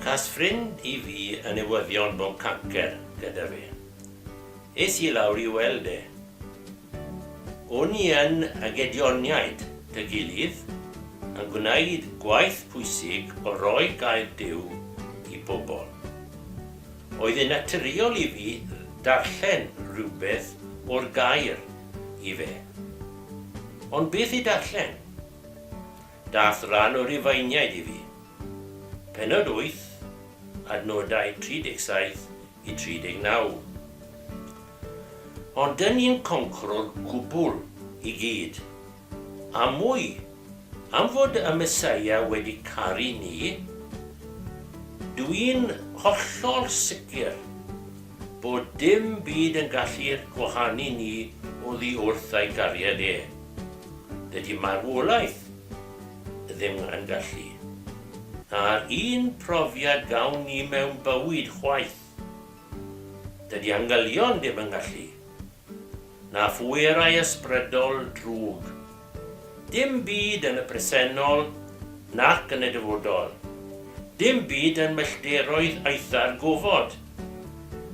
Cas ffrind i fi yn newyddion bod cancer gyda fe. Es i lawr i weld e. O'n i yn y Gedioniaid, Tŷ Gilydd, yn gwneud gwaith pwysig o roi gair Duw i bobl. Oedd e'n naturiol i fi ddarllen rhywbeth o'r gair i fe. Ond beth i darllen? Dath ran o Rufeiniaid i fi. Pennod 8, adnodau 37 i 39. Ond 'dyn ni'n concro'r gwbl i gyd. A mwy, am fod y Meseia wedi caru ni, dw i'n hollol sicr bod dim byd yn gallu gwahanu ni oddi wrth ei gariad e. Dydy marwolaeth ddim yn gallu. A'r un profiad gawn ni mewn bywyd chwaith. Dydy angylion ddim yn gallu. na phwerau ysbrydol drwg. Dim byd yn y presennol nac yn y dyfodol, dim byd yn mellteroedd aetha'r gofod,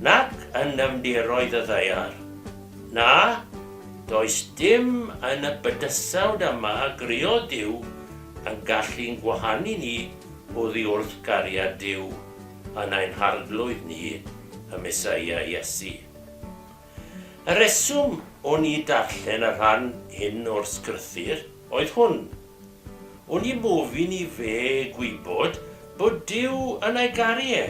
nac yn nyfnderoedd y ddaear. Na, does dim yn y bydysawd yma a grëodd Duw yn gallu'n gwahanu ni oddi wrth gariad Duw yn ein harglwydd ni, y Meseia Iesu. Y rheswm o'n i darllen y rhan hyn o'r sgrythur oedd hwn, O'n i mofyn i fe gwybod bod Duw yn ei garu e,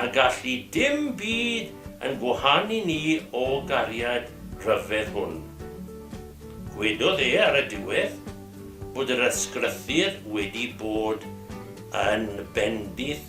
a gall i dim byd yn gwahanu ni o gariad rhyfedd hwn. Gwedodd e ar y diwedd bod yr ysgrythur wedi bod yn bendith